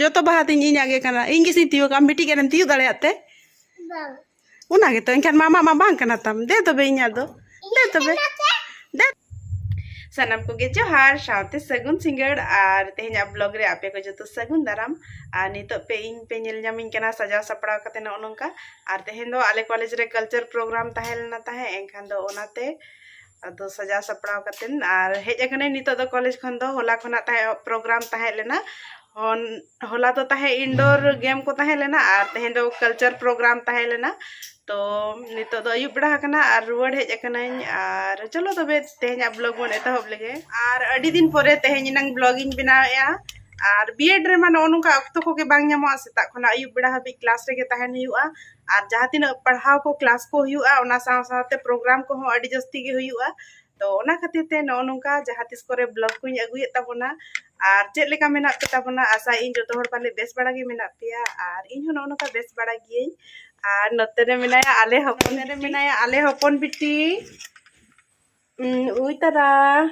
ᱡᱚᱛᱚ ᱵᱟᱦᱟ ᱛᱤᱧ ᱤᱧᱟᱹᱜ ᱜᱮ ᱠᱟᱱᱟ ᱤᱧ ᱜᱮᱥᱤᱧ ᱛᱤᱭᱳᱜᱟ ᱢᱤᱫᱴᱤᱡ ᱜᱟᱱᱮᱢ ᱛᱤᱭᱳᱜ ᱫᱟᱲᱮᱭᱟᱜ ᱛᱮ ᱚᱱᱟ ᱜᱮᱛᱚ ᱮᱱᱠᱷᱟᱱ ᱢᱟᱢᱟ ᱢᱟ ᱵᱟᱝ ᱠᱟᱱᱟ ᱛᱟᱢ ᱫᱮ ᱛᱚᱵᱮ ᱤᱧᱟᱹᱜ ᱫᱚ ᱫᱮ ᱛᱚᱵᱮ ᱫᱮ ᱥᱟᱱᱟᱢ ᱠᱚᱜᱮ ᱡᱚᱦᱟᱨ ᱥᱟᱶᱛᱮ ᱥᱟᱹᱜᱩᱱ ᱥᱤᱸᱜᱟᱹᱲ ᱟᱨ ᱛᱮᱦᱮᱧᱟᱜ ᱵᱞᱚᱜ ᱨᱮ ᱟᱯᱮ ᱠᱚ ᱡᱚᱛᱚ ᱥᱟᱹᱜᱩᱱ ᱫᱟᱨᱟᱢ ᱟᱨ ᱱᱤᱛᱚᱜ ᱯᱮ ᱤᱧ ᱯᱮ ᱧᱮᱞ ᱧᱟᱢᱤᱧ ᱠᱟᱱᱟ ᱥᱟᱡᱟᱣ ᱥᱟᱯᱲᱟᱣ ᱠᱟᱛᱮ ᱱᱚᱜᱼᱚ ᱱᱚᱝᱠᱟ ᱟᱨ ᱛᱮᱦᱮᱧ ᱫᱚ ᱟᱞᱮ ᱠᱚᱞᱮᱡᱽ ᱨᱮ ᱠᱟᱞᱪᱟᱨ ᱯᱨᱳᱜᱨᱟᱢ ᱛᱟᱦᱮᱸ ᱞᱮᱱᱟ ᱛᱟᱦᱮᱸᱫ ᱮᱱᱠᱷᱟᱱ ᱫᱚ ᱚᱱᱟᱛᱮ ᱟᱫᱚ ᱥᱟᱡᱟᱣ ᱥᱟᱯᱲᱟᱣ ᱠᱟᱛᱮᱱ ᱟᱨ ᱦᱮᱡ ᱟᱠᱟᱱᱟᱹᱧ ᱱᱤᱛᱚᱜ ᱫᱚ ᱠᱚᱞᱮᱡᱽ ᱠᱷᱚᱱ ᱫᱚ ᱦᱚᱞᱟ ᱠᱷᱚᱱᱟᱜ ᱛᱟᱦᱮᱸ ᱯᱨᱳᱜᱨᱟᱢ ᱛᱟᱦᱮᱸ ᱞᱮᱱᱟ ᱦᱚᱱ ᱦᱚᱞᱟ ᱫᱚ ᱛᱟᱦᱮᱸ ᱤᱱᱰᱳᱨ ᱜᱮᱢ ᱠᱚ ᱛᱟᱦᱮᱸ ᱞᱮᱱᱟ ᱟᱨ ᱛᱮᱦᱮᱧ ᱫᱚ ᱠᱟᱞᱪᱟᱨ ᱯᱨᱳᱜᱨᱟᱢ ᱛᱟᱦᱮᱸ ᱞᱮᱱᱟ ᱛᱚ ᱱᱤᱛᱚᱜ ᱫᱚ ᱟᱹᱭᱩᱵ ᱵᱮᱲᱟ ᱟᱠᱟᱱᱟ ᱟᱨ ᱨᱩᱣᱟᱹᱲ ᱦᱮᱡ ᱟᱠᱟᱱᱟᱹᱧ ᱟᱨ ᱪᱚᱞᱚ ᱛᱚᱵᱮ ᱛᱮᱦᱮᱧᱟᱜ ᱵᱞᱚᱜ ᱵᱚᱱ ᱮᱛᱚᱦᱚᱵ ᱞᱮᱜᱮ ᱟᱨ ᱟᱹᱰᱤ ᱫᱤᱱ ᱯᱚᱨᱮ ᱛᱮᱦᱮᱧ ᱮᱱᱟᱝ ᱵᱞᱚᱜ ᱤᱧ ᱵᱮᱱᱟᱣᱮᱜᱼᱟ ᱟᱨ ᱵᱤᱭᱮᱰ ᱨᱮᱢᱟ ᱱᱚᱜᱼᱚ ᱱᱚᱝᱠᱟ ᱚᱠᱛᱚ ᱠᱚᱜᱮ ᱵᱟᱝ ᱧᱟᱢᱚᱜᱼᱟ ᱥᱮᱛᱟᱜ ᱠᱷᱚᱱᱟᱜ ᱟᱹᱭᱩᱵ ᱵᱮᱲᱟ ᱦᱟᱹᱵᱤᱡ ᱠᱞᱟᱥ ᱨᱮᱜᱮ ᱛᱟᱦᱮᱱ ᱦᱩᱭᱩᱜᱼᱟ ᱟᱨ ᱡᱟᱦᱟᱸ ᱛᱤᱱᱟᱹᱜ ᱯᱟᱲᱦᱟᱣ ᱠᱚ ᱠᱞᱟᱥ ᱠᱚ ᱦᱩᱭᱩᱜᱼᱟ ᱚᱱᱟ ᱥᱟᱶ ᱥᱟᱶᱛᱮ ᱯᱨᱳᱜᱨᱟᱢ ᱠᱚᱦᱚᱸ ᱟᱹᱰᱤ ᱡᱟᱹᱥᱛᱤ ᱜᱮ ᱦᱩᱭᱩᱜᱼᱟ ᱛᱚ ᱚᱱᱟ ᱠᱷᱟᱹᱛᱤᱨ ᱛᱮ ᱱᱚᱜᱼᱚ ᱱᱚᱝᱠᱟ ᱡᱟᱦᱟᱸ ᱛᱤᱥ ᱠᱚᱨᱮ ᱵᱞᱚᱜ ᱠᱚᱧ ᱟᱹᱜᱩᱭᱮᱫ ᱛᱟᱵᱚᱱᱟ ᱟᱨ ᱪᱮᱫ ᱞᱮᱠᱟ ᱢᱮᱱᱟᱜ ᱯᱮ ᱛᱟᱵᱚᱱᱟ ᱟᱥᱟ ᱤᱧ ᱡᱚᱛᱚ ᱦᱚᱲ ᱯᱟᱞᱮ ᱵᱮᱥ ᱵᱟᱲᱟ ᱜᱮ ᱢᱮᱱᱟᱜ ᱯᱮᱭᱟ ᱟᱨ ᱤᱧ ᱦᱚᱸ ᱱᱚᱜᱼᱚ ᱱᱚᱝᱠᱟ ᱵᱮᱥ ᱵᱟᱲᱟ ᱜᱤᱭᱟᱹᱧ ᱟᱨ ᱱᱚᱛᱮ ᱨᱮ ᱢᱮᱱᱟᱭᱟ ᱟᱞᱮ ᱦᱚᱯᱚᱱ ᱨᱮ ᱢᱮᱱᱟᱭᱟ ᱟᱞᱮ ᱦᱚᱯᱚᱱ ᱵᱤᱴᱤ ᱩᱭ ᱛᱟᱨᱟ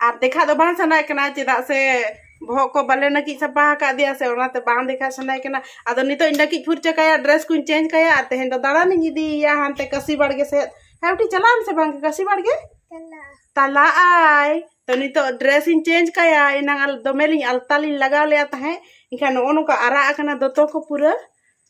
ᱟᱨ ᱫᱮᱠᱷᱟ ᱫᱚ ᱵᱟᱝ ᱥᱟᱱᱟᱭᱮ ᱠᱟᱱᱟ ᱪᱮᱫᱟᱜ ᱥᱮ ᱵᱚᱦᱚᱜ ᱠᱚ ᱵᱟᱞᱮ ᱱᱟᱹᱠᱤᱡ ᱥᱟᱯᱟ ᱟᱠᱟᱫ ᱫᱮᱭᱟ ᱥᱮ ᱚᱱᱟᱛᱮ ᱵᱟᱝ ᱫᱮᱠᱷᱟ ᱥᱟᱱᱟᱭᱮ ᱠᱟᱱᱟ ᱟᱫᱚ ᱱᱤᱛᱚᱜ ᱤᱧ ᱱᱟᱹᱠᱤᱡ ᱯᱷᱩᱨᱪᱟᱹ ᱠᱟᱭᱟ ᱰᱨᱮᱥ ᱠᱚᱧ ᱪᱮᱧᱡᱽ ᱠᱟᱭᱟ ᱟᱨ ᱛᱮᱦᱮᱧ ᱫᱚ ᱫᱟᱬᱟᱱᱤᱧ ᱤᱫᱤᱭᱮᱭᱟ ᱦᱟᱱᱛᱮ ᱠᱟᱹᱥᱤ ᱵᱟᱲᱜᱮ ᱥᱮᱫ ᱦᱮᱸ ᱵᱤᱴᱤ ᱪᱟᱞᱟᱜ ᱟᱢ ᱥᱮ ᱵᱟᱝ ᱠᱟᱹᱥᱤ ᱵᱟᱲᱜᱮ ᱛᱟᱞᱟᱜ ᱟᱭ ᱛᱚ ᱱᱤᱛᱚᱜ ᱰᱨᱮᱥ ᱤᱧ ᱪᱮᱧᱡᱽ ᱠᱟᱭᱟ ᱮᱱᱟᱝ ᱫᱚᱢᱮ ᱞᱤᱧ ᱟᱞᱛᱟ ᱞᱤᱧ ᱞᱟᱜᱟᱣ ᱞᱮᱫᱼᱟ ᱛᱟᱦᱮᱸᱫ ᱮᱱᱠᱷᱟᱱ ᱱᱚᱜᱼᱚ ᱱᱚᱝᱠᱟ ᱟᱨᱟᱜ ᱟᱠᱟᱱᱟ ᱫᱚᱛᱚ ᱠᱚ ᱯᱩᱨᱟᱹ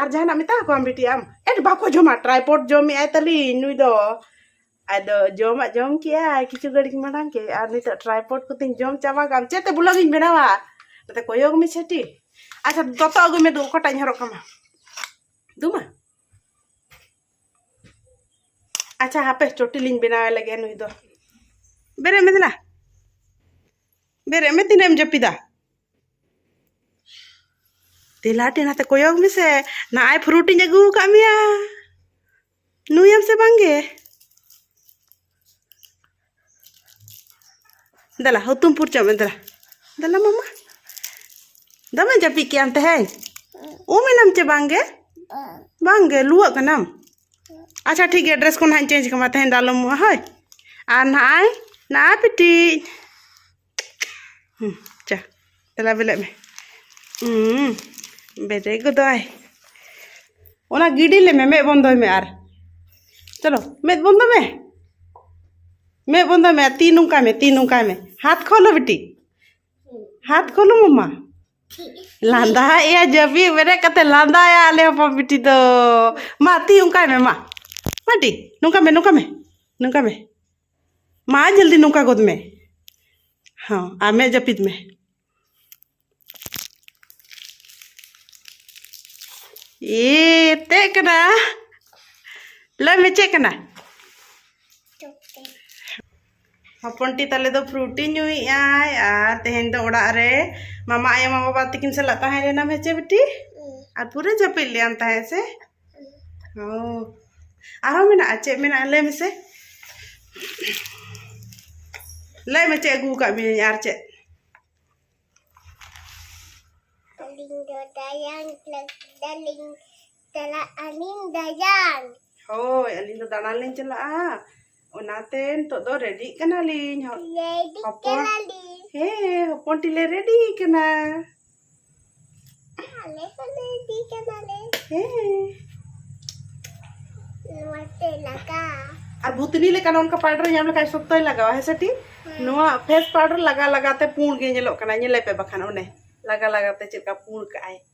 ᱟᱨ ᱡᱟᱦᱟᱱᱟᱜ ᱢᱮᱛᱟ ᱠᱚᱣᱟᱢ ᱵᱤᱴᱤ ᱟᱢ ᱮᱴ ᱵᱟᱠᱚ ᱡᱚᱢᱟ ᱴᱨᱟᱭᱯᱚᱰ ᱡᱚᱢᱮᱜ ᱟᱭ ᱛᱟᱹᱞᱤᱧ ᱱᱩᱭ ᱫᱚ ᱟᱫᱚ ᱡᱚᱢᱟᱜ ᱡᱚᱢ ᱠᱮᱜᱼᱟᱭ ᱠᱤᱪᱷᱩ ᱜᱷᱟᱹᱲᱤᱡ ᱢᱟᱲᱟᱝ ᱜᱮ ᱟᱨ ᱱᱤᱛᱚᱜ ᱴᱨᱟᱭᱯᱚᱰ ᱠᱚᱛᱤᱧ ᱡᱚᱢ ᱪᱟᱵᱟ ᱠᱟᱜ ᱪᱮᱫ ᱛᱮ ᱵᱞᱚᱜ ᱤᱧ ᱵᱮᱱᱟᱣᱟ ᱱᱚᱛᱮ ᱠᱚᱭᱚᱜ ᱢᱮ ᱪᱷᱟᱹᱴᱤ ᱟᱪᱪᱷᱟ ᱫᱚᱛᱚ ᱟᱹᱜᱩᱭ ᱢᱮ ᱫᱩ ᱚᱠᱟᱴᱟᱜ ᱤᱧ ᱦᱚᱨᱚᱜ ᱠᱟᱢᱟ ᱫᱩᱢᱟ ᱟᱪᱪᱷᱟ ᱦᱟᱯᱮ ᱪᱚᱴᱤ ᱞᱤᱧ ᱵᱮᱱᱟᱣᱮ ᱞᱟᱹᱜᱤᱫ ᱱᱩᱭ ᱫᱚ ᱵᱮᱨᱮᱫ ᱢᱮ ᱫᱮᱞᱟ ᱵᱮᱨᱮᱫ ᱢᱮ ᱛᱤᱱᱟᱹᱜ ᱮᱢ ᱡᱟᱹᱯᱤᱫᱟ ᱫᱮᱞᱟ ᱴᱷᱮᱱ ᱦᱟᱛᱮ ᱠᱚᱭᱚᱜ ᱢᱮᱥᱮ ᱱᱟᱜᱼᱟᱭ ᱯᱷᱨᱩᱴᱤᱧ ᱟᱹᱜᱩ ᱟᱠᱟᱫ ᱢᱮᱭᱟ ᱱᱩᱭᱟᱢ ᱥᱮ ᱵᱟᱝᱜᱮ ᱫᱮᱞᱟ ᱦᱩᱛᱩᱢ ᱯᱷᱩᱨᱪᱟᱹᱜ ᱢᱮ ᱫᱮᱞᱟ ᱫᱮᱞᱟ ᱢᱟᱢᱟ ᱫᱚᱢᱮ ᱡᱟᱹᱯᱤᱫ ᱠᱮᱜ ᱟᱢ ᱛᱮᱦᱮᱧ ᱩᱢ ᱮᱱᱟᱢ ᱪᱮ ᱵᱟᱝᱜᱮ ᱵᱟᱝᱜᱮ ᱞᱩᱣᱟᱹᱜ ᱠᱟᱱᱟᱢ ᱟᱪᱪᱷᱟ ᱴᱷᱤᱠ ᱜᱮᱭᱟ ᱰᱨᱮᱥ ᱠᱚ ᱱᱟᱦᱟᱜ ᱤᱧ ᱪᱮᱧᱡᱽ ᱠᱟᱢᱟ ᱛᱮᱦᱮᱧ ᱫᱚ ᱟᱞᱚᱢ ᱩᱢᱩᱜᱼᱟ ᱦᱳᱭ ᱟᱨ ᱱᱟᱜᱼᱟᱭ ᱱᱟᱜᱼᱟᱭ ᱯᱤᱴᱤᱡ ᱪᱟ ᱛᱮᱞᱟ ᱵᱮᱞᱮᱫ ᱢᱮ ᱵᱮᱨᱮ ᱜᱚᱫᱚᱜᱼᱟᱭ ᱚᱱᱟ ᱜᱤᱰᱤ ᱞᱮᱢᱮ ᱢᱮᱫ ᱵᱚᱱᱫᱚᱭ ᱢᱮ ᱟᱨ ᱪᱚᱞᱚ ᱢᱮᱫ ᱵᱚᱱᱫᱚ ᱢᱮ ᱢᱮᱫ ᱵᱚᱱᱫᱚᱭ ᱢᱮ ᱛᱤ ᱱᱚᱝᱠᱟᱭ ᱢᱮ ᱛᱤ ᱱᱚᱝᱠᱟᱭ ᱢᱮ ᱦᱟᱛ ᱠᱷᱚᱞᱚ ᱵᱤᱴᱤ ᱦᱟᱛ ᱠᱷᱚᱞᱚ ᱢᱟᱢᱟ ᱞᱟᱸᱫᱟᱭᱮᱜᱼᱟ ᱡᱟᱹᱯᱤᱫ ᱵᱮᱨᱮᱫ ᱠᱟᱛᱮ ᱞᱟᱸᱫᱟᱭᱟ ᱟᱞᱮ ᱦᱚᱯᱚᱱ ᱵᱤᱴᱤ ᱫᱚ ᱢᱟ ᱛᱤ ᱚᱱᱠᱟᱭ ᱢᱮ ᱢᱟ ᱢᱟᱴᱤ ᱱᱚᱝᱠᱟ ᱢᱮ ᱱᱚᱝᱠᱟ ᱢᱮ ᱱᱚᱝᱠᱟ ᱢᱮ ᱢᱟ ᱡᱚᱞᱫᱤ ᱱᱚᱝᱠᱟ ᱜᱚᱫ ᱢᱮ ᱦᱚᱸ ᱟᱨ ᱢᱮᱫ ᱡᱟᱹᱯᱤᱫ ᱢᱮ ᱮ ᱛᱮᱜ ᱠᱟᱱᱟ ᱞᱟᱹᱭ ᱢᱮ ᱪᱮᱫ ᱠᱟᱱᱟ ᱦᱚᱯᱚᱱᱴᱤ ᱛᱟᱞᱮ ᱫᱚ ᱯᱷᱨᱩᱴᱤ ᱧᱩᱭᱮᱫ ᱟᱭ ᱟᱨ ᱛᱮᱦᱮᱧ ᱫᱚ ᱚᱲᱟᱜ ᱨᱮ ᱢᱟᱢᱟ ᱟᱭᱳ ᱢᱟᱢᱟ ᱵᱟᱵᱟ ᱛᱟᱹᱠᱤᱱ ᱥᱟᱞᱟᱜ ᱛᱟᱦᱮᱸ ᱞᱮᱱᱟᱢ ᱦᱮᱸ ᱪᱮ ᱵᱤᱴᱤ ᱟᱨ ᱯᱩᱨᱟᱹ ᱡᱟᱹᱯᱤᱫ ᱞᱮᱭᱟᱢ ᱛᱟᱦᱮᱸᱫ ᱥᱮ ᱚ ᱟᱨᱦᱚᱸ ᱢᱮᱱᱟᱜᱼᱟ ᱪᱮᱫ ᱢᱮᱱᱟᱜᱼᱟ ᱞᱟᱹᱭ ᱢᱮᱥᱮ ᱞᱟᱹᱭ ᱢᱮ ᱪᱮᱫ ᱟᱹᱜᱩ ᱟᱠᱟᱫ ᱢᱤᱭᱟᱹᱧ ᱟᱨ ᱪᱮᱫ ᱟᱹᱞᱤᱧ ᱫᱚ ᱫᱟᱭᱟᱱ ᱞᱟᱹᱜᱤᱫ ᱪᱟᱞᱟᱜ ᱟᱹᱞᱤᱧ ᱫᱟᱭᱟᱱ ᱦᱳᱭ ᱟᱹᱞᱤᱧ ᱫᱚ ᱫᱟᱬᱟᱱ ᱞᱤᱧ ᱪᱟᱞᱟᱜᱼᱟ ᱚᱱᱟᱛᱮ ᱱᱤᱛᱚᱜ ᱫᱚ ᱨᱮᱰᱤᱜ ᱠᱟᱱᱟᱞᱤᱧ ᱦᱚᱯᱚᱱ ᱦᱮᱸ ᱦᱚᱯᱚᱱ ᱴᱤᱞᱮ ᱨᱮᱰᱤ ᱠᱟᱱᱟ ᱟᱞᱮ ᱦᱚᱸ ᱨᱮᱰᱤ ᱠᱟᱱᱟᱞᱮ ᱦᱮᱸ ᱱᱚᱣᱟᱛᱮ ᱞᱟᱜᱟ ᱟᱨ ᱵᱷᱩᱛᱱᱤ ᱞᱮᱠᱟ ᱱᱚᱝᱠᱟ ᱯᱟᱣᱰᱟᱨ ᱧᱟᱢ ᱞᱮᱠᱷᱟᱱ ᱥᱚᱠᱛᱚᱭ ᱞᱟᱜᱟᱣᱟ ᱦᱮᱸ ᱥᱮ ᱴᱤ ᱱᱚᱣᱟ ᱯᱷᱮᱥ ᱯᱟᱣᱰᱟᱨ ᱞᱟᱜᱟ ᱞᱟᱜᱟᱛᱮ ᱯᱩᱸᱰ ᱜᱮ ᱧᱮᱞᱚᱜ ᱠᱟᱱᱟ ᱧᱮᱞᱮ ᱯᱮ ᱵᱟᱠᱷᱟᱱ ᱚᱱᱮ ᱞᱟᱜᱟ ᱞᱟᱜᱟᱛᱮ ᱪᱮᱫ ᱞᱮᱠᱟ ᱯᱩᱸᱰ ᱠᱟᱜᱼᱟᱭ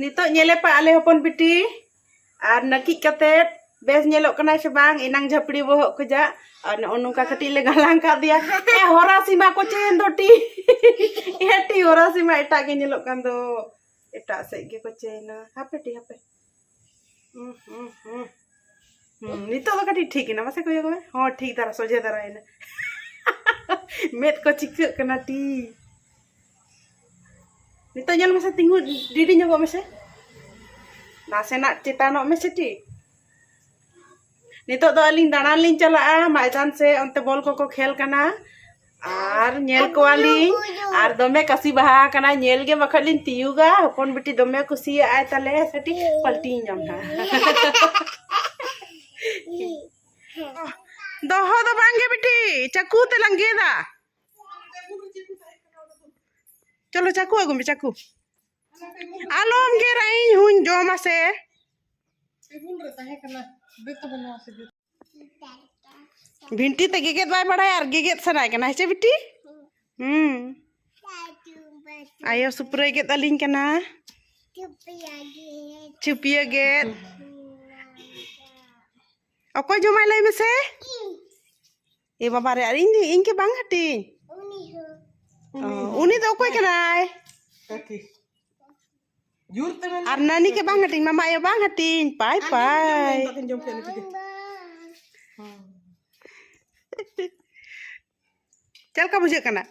ᱱᱤᱛᱚᱜ ᱧᱮᱞᱮ ᱯᱟ ᱟᱞᱮ ᱦᱚᱯᱚᱱ ᱵᱤᱴᱤ ᱟᱨ ᱱᱟᱹᱠᱤᱡ ᱠᱟᱛᱮ ᱵᱮᱥ ᱧᱮᱞᱚᱜ ᱠᱟᱱᱟ ᱥᱮ ᱵᱟᱝ ᱮᱱᱟᱝ ᱡᱷᱟᱯᱲᱤ ᱵᱚᱦᱚᱜ ᱠᱷᱚᱡᱟᱜ ᱟᱨ ᱱᱚᱜᱼᱚ ᱱᱚᱝᱠᱟ ᱠᱟᱹᱴᱤᱡ ᱞᱮ ᱜᱟᱞᱟᱝ ᱠᱟᱜ ᱫᱮᱭᱟ ᱮ ᱦᱚᱨᱟ ᱥᱤᱢᱟ ᱠᱚ ᱪᱮᱱ ᱫᱚᱴᱤ ᱮᱴᱤ ᱦᱚᱨᱟ ᱥᱤᱢᱟ ᱮᱴᱟᱜ ᱜᱮ ᱧᱮᱞᱚᱜ ᱠᱟᱱ ᱫᱚ ᱮᱴᱟᱜ ᱥᱮᱫ ᱜᱮᱠᱚ ᱪᱮᱱᱟ ᱦᱟᱯᱮᱴᱤ ᱦᱟᱯᱮ ᱱᱤᱛᱚᱜ ᱫᱚ ᱠᱟᱹᱴᱤᱡ ᱴᱷᱤᱠ ᱮᱱᱟ ᱢᱟᱥᱮ ᱠᱚᱭᱚᱜ ᱢᱮ ᱦᱚᱸ ᱴᱷᱤᱠ ᱫᱷᱟᱨᱟ ᱥᱚᱡᱷᱮ ᱫᱷᱟᱨᱟᱭᱮᱱᱟ ᱢᱮᱫ ᱠᱚ ᱪᱤᱠᱟᱹᱜ ᱠᱟᱱᱟ ᱴᱤ ᱱᱤᱛᱚᱜ ᱧᱮᱞ ᱢᱮᱥᱮ ᱛᱤᱸᱜᱩ ᱰᱤᱰᱤ ᱧᱚᱜᱚᱜ ᱢᱮᱥᱮ ᱱᱟᱥᱮᱱᱟᱜ ᱪᱮᱛᱟᱱᱚᱜ ᱢᱮᱥᱮ ᱴᱤ ᱱᱤᱛᱚᱜ ᱫᱚ ᱟᱹᱞᱤᱧ ᱫᱟᱬᱟᱱ ᱞᱤᱧ ᱪᱟᱞᱟᱜᱼᱟ ᱢᱟᱭᱫᱟᱱ ᱥᱮ ᱚᱱᱛᱮ ᱵᱚᱞ ᱠᱚᱠᱚ ᱠᱷᱮᱞ ᱠᱟᱱᱟ ᱟᱨ ᱧᱮᱞ ᱠᱚᱣᱟᱞᱤᱧ ᱟᱨ ᱫᱚᱢᱮ ᱠᱟᱥᱤ ᱵᱟᱦᱟ ᱠᱟᱱᱟ ᱧᱮᱞ ᱜᱮ ᱵᱟᱠᱷᱟᱡ ᱞᱤᱧ ᱛᱤᱭᱩᱜᱟ ᱦᱚᱯᱚᱱ ᱵᱤᱴᱤ ᱫᱚᱢᱮ ᱠᱩᱥᱤᱭᱟᱜᱼᱟᱭ ᱛᱟᱞᱮ ᱥᱮᱴᱤ ᱯᱟᱞᱴᱤᱧ ᱧᱟᱢ ᱦᱟᱸᱜ ᱫᱚᱦᱚ ᱫᱚ ᱵᱟᱝᱜᱮ ᱵᱤᱴᱤ ᱪᱟᱠᱩ ᱛᱮᱞᱟᱝ ᱜᱮᱫᱟ ᱪᱚᱞᱚ ᱪᱟᱠᱩ ᱟᱹᱜᱩ ᱢᱮ ᱪᱟᱠᱩ ᱟᱞᱚᱢ ᱜᱮᱨᱟ ᱤᱧ ᱦᱩᱧ ᱡᱚᱢᱟ ᱥᱮ ᱴᱮᱵᱩᱞ ᱨᱮ ᱛᱟᱦᱮᱸ ᱠᱟᱱᱟ ᱵᱮᱛ ᱵᱚᱱᱟ ᱥᱮ ᱵᱷᱤᱱᱴᱤ ᱛᱮ ᱜᱮᱜᱮᱫ ᱵᱟᱭ ᱵᱟᱲᱟᱭᱟ ᱟᱨ ᱜᱮᱜᱮᱫ ᱥᱟᱱᱟᱭ ᱠᱟᱱᱟ ᱦᱮᱸ ᱪᱮ ᱵᱤᱴᱤ ᱦᱩᱸ ᱟᱭᱳ ᱥᱩᱯᱨᱟᱹᱭ ᱜᱮᱫ ᱟᱹᱞᱤᱧ ᱠᱟᱱᱟ ᱪᱩᱯᱤᱭᱟᱹ ᱜᱮᱫ ᱚᱠᱚᱭ ᱡᱚᱢᱟᱭ ᱞᱟᱹᱭ ᱢᱮᱥᱮ ᱮ ᱵᱟᱵᱟ ᱨᱮ ᱟᱨ ᱤᱧ ᱤᱧ ᱜᱮ ᱵᱟᱝ ᱦᱟᱹᱴᱤᱧ ᱩᱱᱤ ᱫᱚ ᱚᱠᱚᱭ ᱠᱟᱱᱟᱭ ᱟᱨ ᱱᱟᱹᱱᱤ ᱜᱮ ᱵᱟᱝ ᱦᱟᱹᱴᱤᱧ ᱢᱟᱢᱟ ᱟᱭᱳ ᱵᱟᱝ ᱦᱟᱹᱴᱤᱧ ᱯᱟᱭ ᱯᱟᱭ ᱪᱮᱫ ᱞᱮᱠᱟ ᱵᱩᱡᱷᱟᱹᱜ ᱠᱟᱱᱟ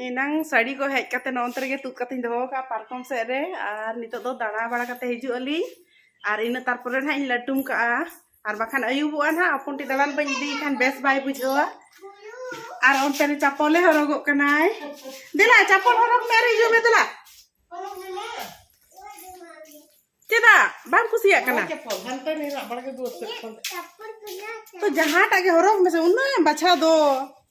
ᱮᱱᱟᱝ ᱥᱟᱹᱲᱤ ᱠᱚ ᱦᱮᱡ ᱠᱟᱛᱮ ᱱᱚᱱᱛᱮ ᱨᱮᱜᱮ ᱛᱩᱫ ᱠᱟᱛᱮᱧ ᱫᱚᱦᱚ ᱠᱟᱜᱼᱟ ᱯᱟᱨᱠᱚᱢ ᱥᱮᱫ ᱨᱮ ᱟᱨ ᱱᱤᱛᱚᱜ ᱫᱚ ᱫᱟᱬᱟ ᱵᱟᱲᱟ ᱠᱟᱛᱮ ᱦᱤᱡᱩᱜ ᱟᱹᱞᱤᱧ ᱟᱨ ᱤᱱᱟᱹ ᱛᱟᱨᱯᱚᱨᱮ ᱱᱟᱦᱟᱜ ᱤᱧ ᱞᱟᱹᱴᱩᱢ ᱠᱟᱜᱼᱟ ᱟᱨ ᱵᱟᱠᱷᱟᱱ ᱟᱹᱭᱩᱵᱚᱜᱼᱟ ᱱᱟᱦᱟᱜ ᱦᱚᱯᱚᱱ ᱴᱤ ᱫᱟᱬᱟᱱ ᱵᱟᱹᱧ ᱤᱫᱤᱭᱮ ᱠᱷᱟᱱ ᱵᱮᱥ ᱵᱟᱭ ᱵᱩᱡᱷᱟᱹᱣᱟ ᱟᱨ ᱚᱱᱛᱮ ᱨᱮ ᱪᱟᱯᱚᱞᱮ ᱦᱚᱨᱚᱜᱚᱜ ᱠᱟᱱᱟᱭ ᱫᱮᱞᱟ ᱪᱟᱯᱚᱞ ᱦᱚᱨᱚᱜ ᱢᱮ ᱟᱨ ᱦᱤᱡᱩᱜ ᱢᱮ ᱫᱮᱞᱟ ᱪᱮᱫᱟᱜ ᱵᱟᱢ ᱠᱩᱥᱤᱭᱟᱜ ᱠᱟᱱᱟ ᱛᱚ ᱡᱟᱦᱟᱸᱴᱟᱜ ᱜᱮ ᱦᱚᱨᱚᱜ ᱢᱮᱥᱮ ᱩᱱᱟᱹᱜ ᱮᱢ ᱵᱟᱪᱷᱟᱣ ᱫᱚ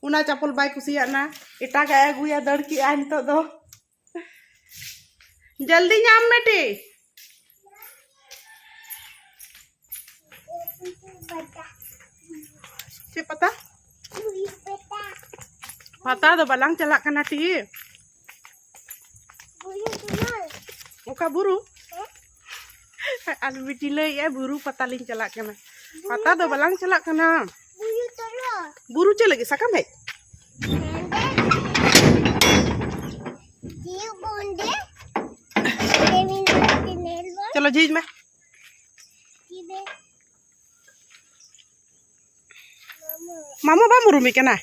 ᱚᱱᱟ ᱪᱟᱯᱚᱞ ᱵᱟᱭ ᱠᱩᱥᱤᱭᱟᱜ ᱱᱟ ᱮᱴᱟᱜᱟᱜ ᱮ ᱟᱹᱜᱩᱭᱟ ᱫᱟᱹᱲ ᱠᱮᱜᱼᱟ ᱱᱤᱛᱚᱜ ᱫᱚ ᱡᱚᱞᱫᱤ ᱧᱟᱢ ᱢᱮ ᱴᱤ ᱪᱮᱫ ᱯᱟᱛᱟ ᱯᱟᱛᱟ ᱫᱚ ᱵᱟᱞᱟᱝ ᱪᱟᱞᱟᱜ ᱠᱟᱱᱟ ᱴᱤ ᱚᱠᱟ ᱵᱩᱨᱩ ᱟᱨ ᱵᱤᱴᱤ ᱞᱟᱹᱭᱮᱫᱼᱟ ᱵᱩᱨᱩ ᱯᱟᱛᱟ ᱞᱤᱧ ᱪᱟᱞᱟᱜ ᱠᱟᱱᱟ ᱯᱟᱛᱟ ᱫᱚ ᱵᱟᱞᱟᱝ ᱪᱟᱞᱟᱜ ᱠᱟᱱᱟ ᱵᱩᱨᱩ ᱪᱮᱫ ᱞᱟᱹᱜᱤᱫ ᱥᱟᱠᱟᱢ ᱦᱮᱡ ᱪᱚᱞᱚ ᱡᱷᱤᱡ ᱢᱮ ᱢᱟᱢᱚ ᱵᱟᱢ ᱩᱨᱩᱢᱮ ᱠᱟᱱᱟ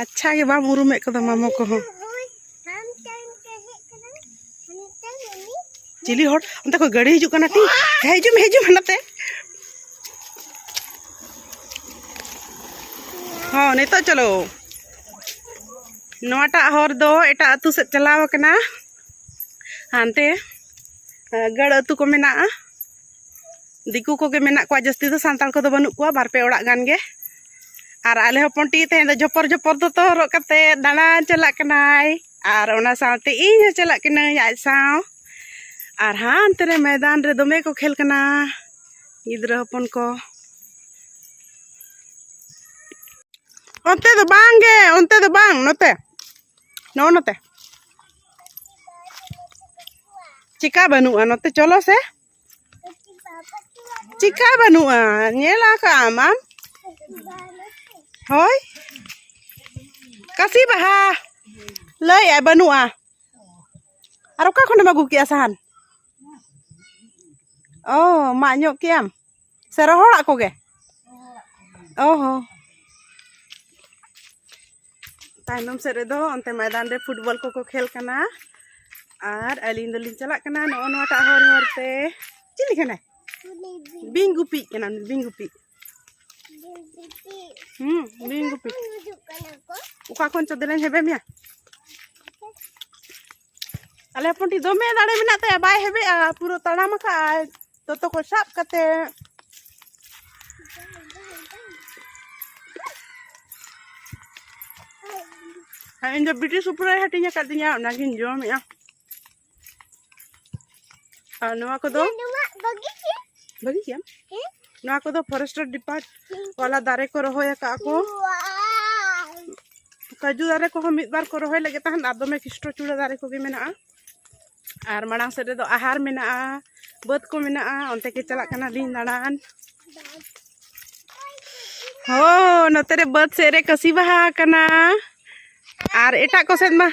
ᱟᱪᱪᱷᱟ ᱜᱮ ᱵᱟᱢ ᱩᱨᱩᱢᱮᱫ ᱠᱚᱫᱚ ᱢᱟᱢᱚ ᱠᱚᱦᱚᱸ ᱪᱤᱞᱤ ᱦᱚᱲ ᱚᱱᱛᱮ ᱠᱷᱚᱱ ᱜᱟᱹᱰᱤ ᱦᱤᱡᱩᱜ ᱠᱟᱱᱟ ᱴᱤ ᱦᱤᱡᱩᱜ ᱢᱮ ᱦᱤᱡᱩᱜ ᱢᱮ ᱱᱟᱛᱮ ᱦᱚᱸ ᱱᱤᱛᱚᱜ ᱪᱚᱞᱚ ᱱᱚᱣᱟᱴᱟᱜ ᱦᱚᱨ ᱫᱚ ᱮᱴᱟᱜ ᱟᱹᱛᱩ ᱥᱮᱫ ᱪᱟᱞᱟᱣ ᱟᱠᱟᱱᱟ ᱦᱟᱱᱛᱮ ᱜᱟᱹᱲ ᱟᱹᱛᱩ ᱠᱚ ᱢᱮᱱᱟᱜᱼᱟ ᱫᱤᱠᱩ ᱠᱚᱜᱮ ᱢᱮᱱᱟᱜ ᱠᱚᱣᱟ ᱡᱟᱹᱥᱛᱤ ᱫᱚ ᱥᱟᱱᱛᱟᱲ ᱠᱚᱫᱚ ᱵᱟᱹᱱᱩᱜ ᱠᱚᱣᱟ ᱵᱟᱨ ᱯᱮ ᱚᱲᱟᱜ ᱜᱟᱱ ᱜᱮ ᱟᱨ ᱟᱞᱮ ᱦᱚᱯᱚᱱ ᱴᱤ ᱛᱮᱦᱮᱧ ᱫᱚ ᱡᱷᱚᱯᱚᱨ ᱡᱷᱚᱯᱚᱨ ᱫᱚᱛᱚ ᱦᱚᱨᱚᱜ ᱠᱟᱛᱮ ᱫᱟᱬᱟᱱ ᱪᱟᱞᱟᱜ ᱠᱟᱱᱟᱭ ᱟᱨ ᱚᱱᱟ ᱥᱟᱶᱛᱮ ᱤᱧ ᱦᱚᱸ ᱪᱟᱞᱟᱜ ᱠᱟᱹᱱᱟᱹᱧ ᱟᱡ ᱥᱟᱶ ᱟᱨ ᱦᱟᱱᱛᱮ ᱨᱮ ᱢᱚᱭᱫᱟᱱ ᱨᱮ ᱫᱚᱢᱮ ᱠᱚ ᱠᱷᱮᱞ ᱠᱟᱱᱟ ᱜᱤᱫᱽᱨᱟᱹ ᱦᱚᱯᱚᱱ ᱠᱚ ᱚᱱᱛᱮ ᱫᱚ ᱵᱟᱝᱜᱮ ᱚᱱᱛᱮ ᱫᱚ ᱵᱟᱝ ᱱᱚᱛᱮ ᱱᱚᱜᱼᱚ ᱱᱚᱛᱮ ᱪᱮᱠᱟ ᱵᱟᱹᱱᱩᱜᱼᱟ ᱱᱚᱛᱮ ᱪᱚᱞᱚ ᱥᱮ ᱪᱮᱠᱟ ᱵᱟᱹᱱᱩᱜᱼᱟ ᱧᱮᱞ ᱟᱠᱟᱫ ᱟᱢ ᱟᱢ ᱦᱳᱭ ᱠᱟᱥᱤ ᱵᱟᱦᱟ ᱞᱟᱹᱭᱮᱫᱼᱟᱭ ᱵᱟᱹᱱᱩᱜᱼᱟ ᱟᱨ ᱚᱠᱟ ᱠᱷᱚᱱᱮᱢ ᱟᱹᱜᱩ ᱠᱮᱜᱼᱟ ᱥᱟᱦᱟᱱ ᱚ ᱢᱟᱜ ᱧᱚᱜ ᱠᱮᱜ ᱟᱢ ᱥᱮ ᱨᱚᱦᱚᱲᱟᱜ ᱠᱚᱜᱮ ᱚ ᱦᱚᱸ ᱛᱟᱭᱱᱚᱢ ᱥᱮᱫ ᱨᱮᱫᱚ ᱚᱱᱛᱮ ᱢᱚᱭᱫᱟᱱ ᱨᱮ ᱯᱷᱩᱴᱵᱚᱞ ᱠᱚᱠᱚ ᱠᱷᱮᱞ ᱠᱟᱱᱟ ᱟᱨ ᱟᱹᱞᱤᱧ ᱫᱚᱞᱤᱧ ᱪᱟᱞᱟᱜ ᱠᱟᱱᱟ ᱱᱚᱜᱼᱚ ᱱᱚᱣᱟᱴᱟᱜ ᱦᱚᱨ ᱦᱚᱨ ᱛᱮ ᱪᱤᱞᱤ ᱠᱟᱱᱟᱭ ᱵᱤᱧ ᱜᱩᱯᱤᱜ ᱠᱟᱱᱟ ᱵᱤᱧ ᱜᱩᱯᱤ ᱦᱩᱸ ᱵᱤᱧ ᱜᱩᱯᱤ ᱚᱠᱟ ᱠᱷᱚᱱ ᱪᱚ ᱫᱮᱞᱟᱧ ᱦᱮᱵᱮ ᱢᱮᱭᱟ ᱟᱞᱮ ᱦᱚᱯᱚᱱ ᱴᱷᱤᱠ ᱫᱚᱢᱮ ᱫᱟᱲᱮ ᱢᱮᱱᱟᱜ ᱛᱟᱭᱟ ᱵᱟᱭ ᱦᱮᱵᱮᱜᱼᱟ ᱯᱩᱨᱟᱹ ᱛᱟᱲᱟᱢ ᱟᱠᱟᱫᱼᱟᱭ ᱫᱚᱛᱚ ᱠᱚ ᱥᱟᱵ ᱠᱟᱛᱮ ᱤᱧ ᱫᱚ ᱵᱤᱴᱤ ᱥᱩᱯᱨᱟᱭ ᱦᱟᱹᱴᱤᱧ ᱟᱠᱟᱫᱤᱧᱟ ᱚᱱᱟᱜᱤᱧ ᱡᱚᱢᱮᱜᱼᱟ ᱟᱨ ᱱᱚᱣᱟ ᱠᱚᱫᱚ ᱵᱷᱟᱹᱜᱤ ᱜᱮᱭᱟ ᱱᱚᱣᱟ ᱠᱚᱫᱚ ᱯᱷᱚᱨᱮᱥᱴᱟᱨ ᱰᱤᱯᱟᱨᱴ ᱣᱟᱞᱟ ᱫᱟᱨᱮ ᱠᱚ ᱨᱚᱦᱚᱭ ᱟᱠᱟᱫ ᱠᱚ ᱠᱟᱡᱩ ᱫᱟᱨᱮ ᱠᱚᱦᱚᱸ ᱢᱤᱫ ᱵᱟᱨ ᱠᱚ ᱨᱚᱦᱚᱭ ᱞᱟᱹᱜᱤᱫ ᱛᱟᱦᱮᱱ ᱟᱨ ᱫᱚᱢᱮ ᱠᱷᱤᱥᱴᱚ ᱪᱩᱲᱟᱹ ᱫᱟᱨᱮ ᱠᱚᱜᱮ ᱢᱮᱱᱟᱜᱼᱟ ᱟᱨ ᱢᱟᱲᱟᱝ ᱥᱮᱫ ᱨᱮᱫᱚ ᱟᱦᱟᱨ ᱢᱮᱱᱟᱜᱼᱟ ᱵᱟᱹᱫᱽ ᱠᱚ ᱢᱮᱱᱟᱜᱼᱟ ᱚᱱᱛᱮ ᱜᱮ ᱪᱟᱞᱟᱜ ᱠᱟᱱᱟᱞᱤᱧ ᱫᱟᱬᱟᱱ ᱦᱳ ᱱᱚᱛᱮ ᱨᱮ ᱵᱟᱹᱫᱽ ᱥᱮᱫ ᱨᱮ ᱠᱟᱹᱥᱤ ᱵᱟᱦᱟ ᱠᱟᱱᱟ ᱟᱨ ᱮᱴᱟᱜ ᱠᱚ ᱥᱮᱫ ᱢᱟ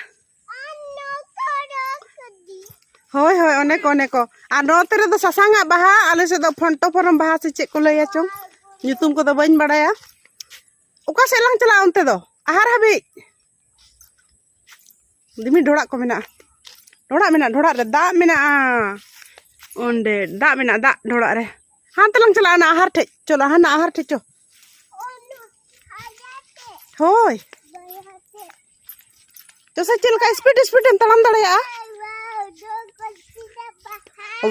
ᱦᱳᱭ ᱦᱳᱭ ᱚᱱᱮ ᱠᱚ ᱚᱱᱮ ᱠᱚ ᱟᱨ ᱱᱚᱛᱮ ᱨᱮᱫᱚ ᱥᱟᱥᱟᱝᱟᱜ ᱵᱟᱦᱟ ᱟᱞᱮ ᱥᱮᱫ ᱫᱚ ᱯᱷᱚᱱᱴᱚ ᱯᱷᱚᱨᱚᱢ ᱵᱟᱦᱟ ᱥᱮ ᱪᱮᱫ ᱠᱚ ᱞᱟᱹᱭᱟ ᱪᱚᱝ ᱧᱩᱛᱩᱢ ᱠᱚᱫᱚ ᱵᱟᱹᱧ ᱵᱟᱲᱟᱭᱟ ᱚᱠᱟ ᱥᱮᱫ ᱞᱟᱝ ᱪᱟᱞᱟᱜᱼᱟ ᱚᱱᱛᱮ ᱫᱚ ᱟᱦᱟᱨ ᱦᱟᱹᱵᱤᱡ ᱫᱤᱢᱤ ᱰᱷᱚᱲᱟᱜ ᱠᱚ ᱢᱮᱱᱟᱜᱼᱟ ᱰᱷᱚᱲᱟᱜ ᱢᱮᱱᱟᱜᱼᱟ ᱰᱷᱚᱲᱟᱜ ᱨᱮ ᱫᱟᱜ ᱢᱮᱱᱟᱜᱼᱟ ᱚᱸᱰᱮ ᱫᱟᱜ ᱢᱮᱱᱟᱜᱼᱟ ᱫᱟᱜ ᱰᱷᱚᱲᱟᱜ ᱨᱮ ᱦᱟᱱᱛᱮ ᱞᱟᱝ ᱪᱟᱞᱟᱜᱼᱟ ᱚᱱᱟ ᱟᱦᱟᱨ ᱴᱷᱮᱡ ᱪᱚᱞᱚ ᱦᱟᱱᱟ ᱟᱦᱟᱨ ᱴᱷᱮᱡ ᱪᱚ ᱦᱳᱭ ᱡᱚᱥᱮ ᱪᱮᱫ ᱞᱮᱠᱟ ᱥᱯᱤᱰ ᱥᱯᱤᱰ ᱮᱢ ᱛᱟᱲᱟᱢ ᱫᱟᱲᱮᱭᱟᱜᱼᱟ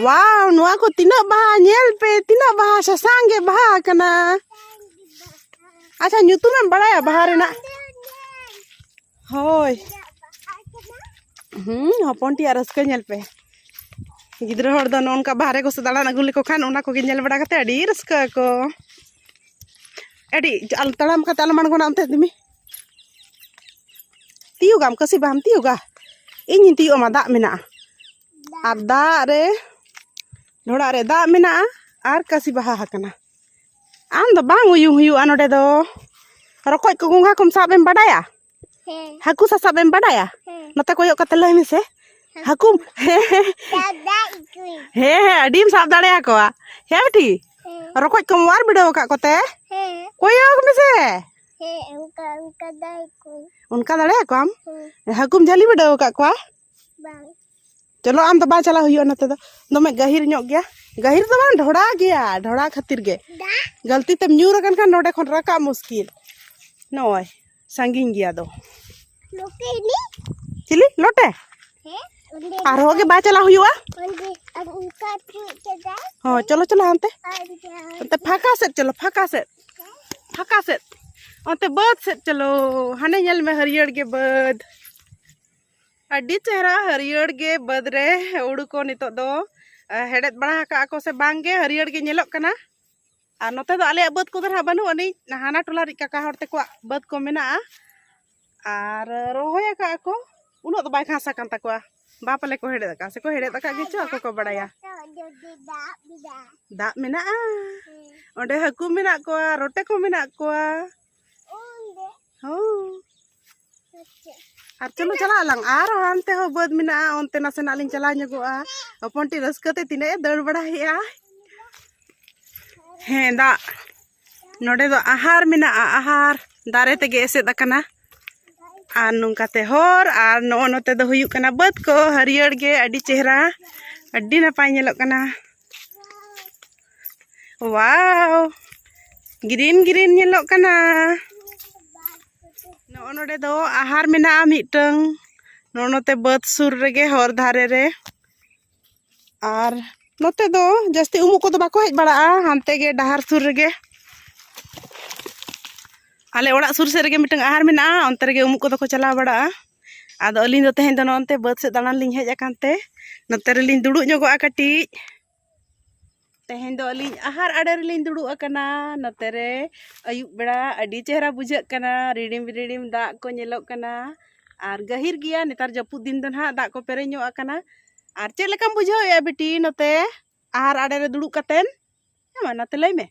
ᱣᱟᱣ ᱱᱚᱣᱟ ᱠᱚ ᱛᱤᱱᱟᱹᱜ ᱵᱟᱦᱟ ᱧᱮᱞ ᱯᱮ ᱛᱤᱱᱟᱹᱜ ᱵᱟᱦᱟ ᱥᱟᱥᱟᱝ ᱜᱮ ᱵᱟᱦᱟ ᱟᱠᱟᱱᱟ ᱟᱪᱪᱷᱟ ᱧᱩᱛᱩᱢ ᱮᱢ ᱵᱟᱲᱟᱭᱟ ᱵᱟᱦᱟ ᱨᱮᱱᱟᱜ ᱦᱳᱭ ᱦᱩᱸ ᱦᱚᱯᱚᱱ ᱴᱤᱭᱟᱜ ᱨᱟᱹᱥᱠᱟᱹ ᱧᱮᱞ ᱯᱮ ᱜᱤᱫᱽᱨᱟᱹ ᱦᱚᱲ ᱫᱚ ᱱᱚᱝᱠᱟ ᱵᱟᱦᱨᱮ ᱠᱚ ᱥᱮ ᱫᱟᱬᱟᱱ ᱟᱹᱜᱩ ᱞᱮᱠᱚ ᱠᱷᱟᱱ ᱚᱱᱟ ᱠᱚᱜᱮ ᱧᱮᱞ ᱵᱟᱲᱟ ᱠᱟᱛᱮ ᱟᱹᱰᱤ ᱨᱟᱹᱥᱠᱟᱹ ᱟᱠᱚ ᱟᱹᱰᱤ ᱛᱟᱲᱟᱢ ᱠᱟᱛᱮ ᱟᱞᱚᱢ ᱟᱬᱜᱚᱱᱟ ᱚᱱᱛᱮ ᱫᱤᱢᱤ ᱛᱤᱭᱩᱜᱟᱢ ᱠᱟᱹᱥᱤ ᱵᱟᱢ ᱛᱤᱭᱩᱜᱟ ᱤᱧᱤᱧ ᱛᱤᱭᱩᱜ ᱟᱢᱟ ᱫᱟᱜ ᱢᱮᱱᱟᱜᱼᱟ ᱟᱨ ᱫᱟᱜ ᱨᱮ ᱰᱷᱚᱲᱟ ᱨᱮ ᱫᱟᱜ ᱢᱮᱱᱟᱜᱼᱟ ᱟᱨ ᱠᱟᱹᱥᱤ ᱵᱟᱦᱟ ᱟᱠᱟᱱᱟ ᱟᱢ ᱫᱚ ᱵᱟᱝ ᱩᱭᱩᱝ ᱦᱩᱭᱩᱜᱼᱟ ᱱᱚᱰᱮ ᱫᱚ ᱨᱚᱠᱚᱡ ᱠᱚ ᱜᱚᱸᱜᱷᱟ ᱠᱚᱢ ᱥᱟᱵ ᱮᱢ ᱵᱟᱰᱟᱭᱟ ᱦᱟᱹᱠᱩ ᱥᱟᱥᱟᱵ ᱮᱢ ᱵᱟᱰᱟᱭᱟ ᱱᱚᱛᱮ ᱠᱚᱭᱚᱜ ᱠᱟᱛᱮ ᱞᱟᱹᱭ ᱢᱮᱥᱮ ᱦᱟᱹᱠᱩ ᱦᱮᱸ ᱦᱮᱸ ᱟᱹᱰᱤᱢ ᱥᱟᱵ ᱫᱟᱲᱮᱭᱟᱠᱚᱣᱟ ᱦᱮᱸ ᱵᱤᱴᱤ ᱨᱚᱠᱚᱡ ᱠᱚᱢ ᱚᱣᱟᱨ ᱵᱤᱰᱟᱹᱣ ᱟᱠᱟᱫ ᱠᱚᱛᱮ ᱠᱚᱭᱚᱜ ᱢᱮᱥᱮ ᱚᱱᱠᱟ ᱫᱟᱲᱮᱭᱟ ᱠᱚᱣᱟᱢ ᱦᱟᱹᱠᱩᱢ ᱡᱷᱟᱹᱞᱤ ᱵᱤᱰᱟᱹᱣ ᱟᱠᱟᱫ ᱠᱚᱣᱟ ᱪᱚᱞᱚ ᱟᱢ ᱫᱚ ᱵᱟᱭ ᱪᱟᱞᱟᱣ ᱦᱩᱭᱩᱜᱼᱟ ᱱᱚᱛᱮ ᱫᱚ ᱫᱚᱢᱮ ᱜᱟᱹᱦᱤᱨ ᱧᱚᱜ ᱜᱮᱭᱟ ᱜᱟᱹᱦᱤᱨ ᱫᱚ ᱵᱟᱝ ᱰᱷᱚᱲᱟ ᱜᱮᱭᱟ ᱰᱷᱚᱲᱟ ᱠᱷᱟᱹᱛᱤᱨ ᱜᱮ ᱜᱟᱹᱞᱛᱤ ᱛᱮᱢ ᱧᱩᱨ ᱟᱠᱟᱱ ᱠᱷᱟᱱ ᱱᱚᱰᱮ ᱠᱷᱚᱱ ᱨᱟᱠᱟᱵ ᱢᱩᱥᱠᱤᱞ ᱱᱚᱜᱼᱚᱭ ᱥᱟᱺᱜᱤᱧ ᱜᱮᱭᱟ ᱫᱚ ᱪᱤᱞᱤ ᱞᱚᱴᱮ ᱟᱨᱦᱚᱸ ᱜᱮ ᱵᱟᱭ ᱪᱟᱞᱟᱣ ᱦᱩᱭᱩᱜᱼᱟ ᱦᱚᱸ ᱪᱚᱞᱚ ᱪᱚᱞᱚ ᱦᱟᱱᱛᱮ ᱚᱱᱛᱮ ᱯᱷᱟᱸᱠᱟ ᱥᱮᱫ ᱪᱚᱞᱚ ᱯᱷᱟᱸᱠᱟ ᱥᱮᱫ ᱯᱷᱟᱸᱠᱟ ᱥᱮᱫ ᱚᱱᱛᱮ ᱵᱟᱹᱫᱽ ᱥᱮᱫ ᱪᱚᱞᱚ ᱦᱟᱱᱮ ᱧᱮᱞ ᱢᱮ ᱦᱟᱹᱨᱭᱟᱹᱲ ᱜᱮ ᱵᱟᱹᱫᱽ ᱟᱹᱰᱤ ᱪᱮᱦᱨᱟ ᱦᱟᱹᱨᱭᱟᱹᱲ ᱜᱮ ᱵᱟᱹᱫᱽ ᱨᱮ ᱦᱩᱲᱩ ᱠᱚ ᱱᱤᱛᱚᱜ ᱫᱚ ᱦᱮᱲᱦᱮᱫ ᱵᱟᱲᱟ ᱟᱠᱟᱫ ᱠᱚ ᱥᱮ ᱵᱟᱝᱜᱮ ᱦᱟᱹᱨᱭᱟᱹᱲ ᱜᱮ ᱧᱮᱞᱚᱜ ᱠᱟᱱᱟ ᱟᱨ ᱱᱚᱛᱮ ᱫᱚ ᱟᱞᱮᱭᱟᱜ ᱵᱟᱹᱫᱽ ᱠᱚᱫᱚ ᱱᱟᱦᱟᱜ ᱵᱟᱹᱱᱩᱜ ᱟᱹᱱᱤᱡ ᱦᱟᱱᱟ ᱴᱚᱞᱟ ᱨᱤᱡ ᱠᱟᱠᱟ ᱦᱚᱲ ᱛᱮᱠᱚᱣᱟᱜ ᱵᱟᱹᱫᱽ ᱠᱚ ᱢᱮᱱᱟᱜᱼᱟ ᱟᱨ ᱨᱚᱦᱚᱭ ᱟᱠᱟᱫ ᱟᱠᱚ ᱩᱱᱟᱹᱜ ᱫᱚ ᱵᱟᱭ ᱜᱷᱟᱥ ᱟᱠᱟᱱ ᱛᱟᱠᱚᱣᱟ ᱵᱟᱯ ᱟᱞᱮ ᱠᱚ ᱦᱮᱲᱮᱫ ᱟᱠᱟᱫ ᱥᱮᱠᱚ ᱦᱮᱲᱮᱫ ᱟᱠᱟᱫ ᱜᱮᱪᱚ ᱟᱠᱚ ᱠᱚ ᱵᱟᱲᱟᱭᱟ ᱫᱟᱜ ᱢᱮᱱᱟᱜᱼᱟ ᱚᱸᱰᱮ ᱦᱟᱹᱠᱩ ᱢᱮᱱᱟᱜ ᱠᱚᱣᱟ ᱨᱚᱴᱮ ᱠᱚ ᱢᱮᱱᱟᱜ ᱠᱚᱣᱟ ᱟᱨ ᱪᱚᱞᱚ ᱪᱟᱞᱟᱜ ᱟᱞᱟᱝ ᱟᱨ ᱦᱟᱱᱛᱮ ᱦᱚᱸ ᱵᱟᱹᱫᱽ ᱢᱮᱱᱟᱜᱼᱟ ᱚᱱᱛᱮ ᱱᱟᱥᱮᱱᱟᱜ ᱞᱤᱧ ᱪᱟᱞᱟᱣ ᱧᱚᱜᱚᱜᱼᱟ ᱦᱚᱯᱚᱱ ᱴᱤ ᱨᱟᱹᱥᱠᱟᱹ ᱛᱮ ᱛᱤᱱᱟᱹᱜ ᱮ ᱫᱟᱹᱲ ᱵᱟᱲᱟᱭᱮᱜᱼᱟ ᱦᱮᱸ ᱫᱟᱜ ᱱᱚᱰᱮ ᱫᱚ ᱟᱦᱟᱨ ᱢᱮᱱᱟᱜᱼᱟ ᱟᱦᱟᱨ ᱫᱟᱨᱮ ᱛᱮᱜᱮ ᱮᱥᱮᱫ ᱟᱠᱟᱱᱟ ᱟᱨ ᱱᱚᱝᱠᱟᱛᱮ ᱦᱚᱨ ᱟᱨ ᱱᱚᱜᱼᱚ ᱱᱚᱛᱮ ᱫᱚ ᱦᱩᱭᱩᱜ ᱠᱟᱱᱟ ᱵᱟᱹᱫᱽ ᱠᱚ ᱦᱟᱹᱨᱭᱟᱹᱲ ᱜᱮ ᱟᱹᱰᱤ ᱪᱮᱦᱨᱟ ᱟᱹᱰᱤ ᱱᱟᱯᱟᱭ ᱧᱮᱞᱚᱜ ᱠᱟᱱᱟ ᱣᱟᱣ ᱜᱨᱤᱱ ᱜᱨᱤᱱ ᱧᱮᱞᱚᱜ ᱠᱟᱱᱟ ᱱᱚᱜᱼᱚ ᱱᱚᱰᱮ ᱫᱚ ᱟᱦᱟᱨ ᱢᱮᱱᱟᱜᱼᱟ ᱢᱤᱫᱴᱟᱝ ᱱᱚᱜᱼᱚ ᱱᱚᱛᱮ ᱵᱟᱹᱫᱽ ᱥᱩᱨ ᱨᱮᱜᱮ ᱦᱚᱨ ᱫᱷᱟᱨᱮ ᱨᱮ ᱟᱨ ᱱᱚᱛᱮ ᱫᱚ ᱡᱟᱹᱥᱛᱤ ᱩᱢᱩᱜ ᱠᱚᱫᱚ ᱵᱟᱠᱚ ᱦᱮᱡ ᱵᱟᱲᱟᱜᱼᱟ ᱦᱟᱱᱛᱮ ᱜᱮ ᱰᱟᱦᱟᱨ ᱥᱩᱨ ᱨᱮᱜᱮ ᱟᱞᱮ ᱚᱲᱟᱜ ᱥᱩᱨ ᱥᱮᱫ ᱨᱮᱜᱮ ᱢᱤᱫᱴᱟᱝ ᱟᱦᱟᱨ ᱢᱮᱱᱟᱜᱼᱟ ᱚᱱᱛᱮ ᱨᱮᱜᱮ ᱩᱢᱩᱜ ᱠᱚᱫᱚ ᱠᱚ ᱪᱟᱞᱟᱣ ᱵᱟᱲᱟᱜᱼᱟ ᱟᱫᱚ ᱟᱹᱞᱤᱧ ᱫᱚ ᱛᱮᱦᱮᱧ ᱫᱚ ᱱᱚᱜᱼᱚ ᱱᱚᱛᱮ ᱵᱟᱹᱫᱽ ᱥᱮᱫ ᱫᱟᱬᱟᱱ ᱞᱤᱧ ᱦᱮᱡ ᱟᱠᱟᱱ ᱛᱮ ᱱᱚᱛᱮ ᱨᱮᱞᱤᱧ ᱫᱩᱲᱩᱵ ᱧᱚᱜᱚᱜᱼᱟ ᱠᱟᱹᱴᱤᱡ ᱛᱮᱦᱮᱧ ᱫᱚ ᱟᱹᱞᱤᱧ ᱟᱦᱟᱨ ᱟᱲᱮ ᱨᱮᱞᱤᱧ ᱫᱩᱲᱩᱵ ᱟᱠᱟᱱᱟ ᱱᱚᱛᱮ ᱨᱮ ᱟᱹᱭᱩᱵ ᱵᱮᱲᱟ ᱟᱹᱰᱤ ᱪᱮᱦᱨᱟ ᱵᱩᱡᱷᱟᱹᱜ ᱠᱟᱱᱟ ᱨᱤᱲᱤᱢ ᱨᱤᱲᱤᱢ ᱫᱟᱜ ᱠᱚ ᱧᱮᱞᱚᱜ ᱠᱟᱱᱟ ᱟᱨ ᱜᱟᱹᱦᱤᱨ ᱜᱮᱭᱟ ᱱᱮᱛᱟᱨ ᱡᱟᱹᱯᱩᱫ ᱫᱤᱱ ᱫᱚ ᱱᱟᱦᱟᱜ ᱫᱟᱜ ᱠᱚ ᱯᱮᱨᱮᱡ ᱧᱚᱜ ᱟᱠᱟᱱᱟ ᱟᱨ ᱪᱮᱫ ᱞᱮᱠᱟᱢ ᱵᱩᱡᱷᱟᱹᱣᱮᱜᱼᱟ ᱵᱤᱴᱤ ᱱᱚᱛᱮ ᱟᱦᱟᱨ ᱟᱲᱮ ᱨᱮ ᱫᱩᱲᱩᱵ ᱠᱟᱛᱮᱱ ᱦᱮᱸ ᱢᱟ ᱱᱟᱛᱮ ᱞᱟᱹᱭ ᱢᱮ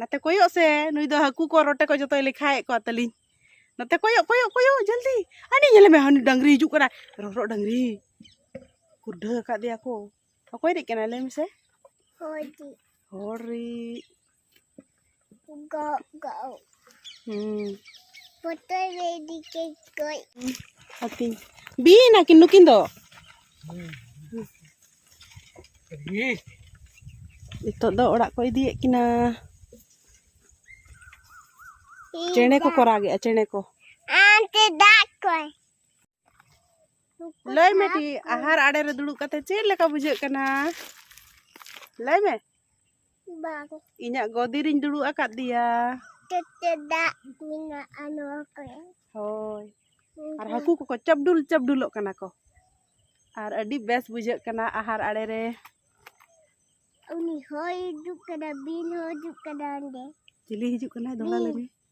ᱱᱟᱛᱮ ᱠᱚᱭᱚᱜ ᱥᱮ ᱱᱩᱭ ᱫᱚ ᱦᱟᱹᱠᱩ ᱠᱚ ᱨᱚᱴᱮ ᱠᱚ ᱡᱚᱛᱚᱭ ᱞᱮᱠᱷᱟᱭᱮᱫ ᱠᱚᱣᱟ ᱛᱟᱹᱞᱤᱧ ᱱᱚᱛᱮ ᱠᱚᱭᱚᱜ ᱠᱚᱭᱚᱜ ᱠᱚᱭᱚᱜ ᱡᱚᱞᱫᱤ ᱟᱹᱰᱤ ᱧᱮᱞ ᱢᱮ ᱦᱟᱹᱱᱤ ᱰᱟᱹᱝᱨᱤ ᱦᱤᱡᱩᱜ ᱠᱟᱱᱟ ᱨᱚᱨᱚᱜ ᱰᱟᱹᱝᱨᱤ ᱠᱩᱰᱷᱟᱹ ᱟᱠᱟᱫᱮᱭᱟ ᱠᱚ ᱚᱠᱚᱭ ᱨᱤᱡ ᱠᱟᱱᱟᱭ ᱞᱟᱹᱭ ᱢᱮᱥᱮ ᱦᱚᱲ ᱨᱤᱡ ᱦᱚᱲ ᱨᱤᱡ ᱜᱟᱣ ᱜᱟᱣ ᱦᱩᱸ ᱯᱚᱛᱚᱭ ᱨᱮ ᱫᱤᱠᱮ ᱜᱚᱡ ᱦᱟᱹᱛᱤ ᱵᱤᱧ ᱟᱹᱠᱤᱱ ᱱᱩᱠᱤᱱ ᱫᱚ ᱱᱤᱛᱚᱜ ᱫᱚ ᱚᱲᱟᱜ ᱠᱚ ᱤᱫᱤᱭᱮᱫ ᱠᱤᱱᱟ ᱪᱮᱬᱮ ᱠᱚ ᱠᱚᱨᱟᱜᱮᱜᱼᱟ ᱪᱮᱬᱮ ᱠᱚ ᱟᱱᱛᱮ ᱫᱟᱜ ᱠᱚᱭ ᱞᱟᱹᱭ ᱢᱮ ᱴᱤ ᱟᱦᱟᱨ ᱟᱲᱮ ᱨᱮ ᱫᱩᱲᱩᱵ ᱠᱟᱛᱮ ᱪᱮᱫ ᱞᱮᱠᱟ ᱵᱩᱡᱷᱟᱹᱜ ᱠᱟᱱᱟ ᱞᱟᱹᱭ ᱢᱮ ᱵᱟᱝ ᱤᱧᱟᱹᱜ ᱜᱚᱫᱤ ᱨᱤᱧ ᱫᱩᱲᱩᱵ ᱟᱠᱟᱫᱮᱭᱟ ᱛᱮᱛᱮ ᱫᱟᱜ ᱢᱮᱱᱟᱜᱼᱟ ᱱᱚᱣᱟ ᱠᱚᱨᱮ ᱦᱳᱭ ᱟᱨ ᱦᱟᱹᱠᱩ ᱠᱚᱠᱚ ᱪᱟᱯᱰᱩᱞ ᱪᱟᱯᱰᱩᱞᱚᱜ ᱠᱟᱱᱟ ᱠᱚ ᱟᱨ ᱟᱹᱰᱤ ᱵᱮᱥ ᱵᱩᱡᱷᱟᱹᱜ ᱠᱟᱱᱟ ᱟᱦᱟᱨ ᱟᱲᱮ ᱨᱮ ᱩᱱᱤ ᱦᱚᱭ ᱦᱤᱡᱩᱜ ᱠᱟᱱᱟ ᱵᱤᱱ ᱦᱚᱸ ᱦᱤᱡᱩᱜ ᱠᱟᱱᱟ ᱚᱸᱰᱮ ᱪᱤᱞᱤ ᱦᱤᱡᱩᱜ ᱠᱟᱱᱟᱭ ᱫᱚᱦᱲᱟ ᱞᱟᱹᱭ ᱢᱮ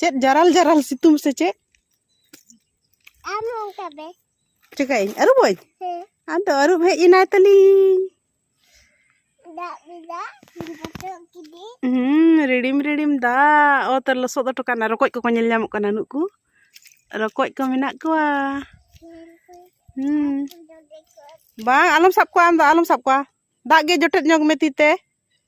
ᱪᱮᱫ ᱡᱟᱨᱟᱞ ᱡᱟᱨᱟᱞ ᱥᱤᱛᱩᱝ ᱥᱮ ᱪᱮᱫ ᱟᱢ ᱚᱱᱠᱟ ᱵᱮ ᱪᱤᱠᱟᱹᱭᱟᱹᱧ ᱟᱹᱨᱩᱵᱟᱹᱧ ᱦᱮᱸ ᱟᱫᱚ ᱟᱹᱨᱩᱵ ᱦᱮᱡ ᱮᱱᱟᱭ ᱛᱟᱹᱞᱤᱧ ᱫᱟᱜ ᱵᱮᱫᱟ ᱵᱚᱛᱚᱜ ᱠᱤᱫᱤ ᱦᱩᱸ ᱨᱤᱲᱤᱢ ᱨᱤᱲᱤᱢ ᱫᱟᱜ ᱚᱛ ᱨᱮ ᱞᱚᱥᱚᱫ ᱦᱚᱴᱚ ᱠᱟᱱᱟ ᱨᱚᱠᱚᱡ ᱠᱚᱠᱚ ᱧᱮᱞ ᱧᱟᱢᱚᱜ ᱠᱟᱱᱟ ᱱᱩᱠᱩ ᱨᱚᱠᱚᱡ ᱠᱚ ᱢᱮᱱᱟᱜ ᱠᱚᱣᱟ ᱦᱩᱸ ᱵᱟᱝ ᱟᱞᱚᱢ ᱥᱟᱵ ᱠᱚᱣᱟ ᱟᱢ ᱫᱚ ᱟᱞᱚᱢ ᱥᱟᱵ ᱠᱚᱣᱟ ᱫᱟᱜ ᱜᱮ ᱡᱚᱴᱮᱫ ᱧᱚᱜᱽ ᱢᱮ ᱛᱤ ᱛᱮ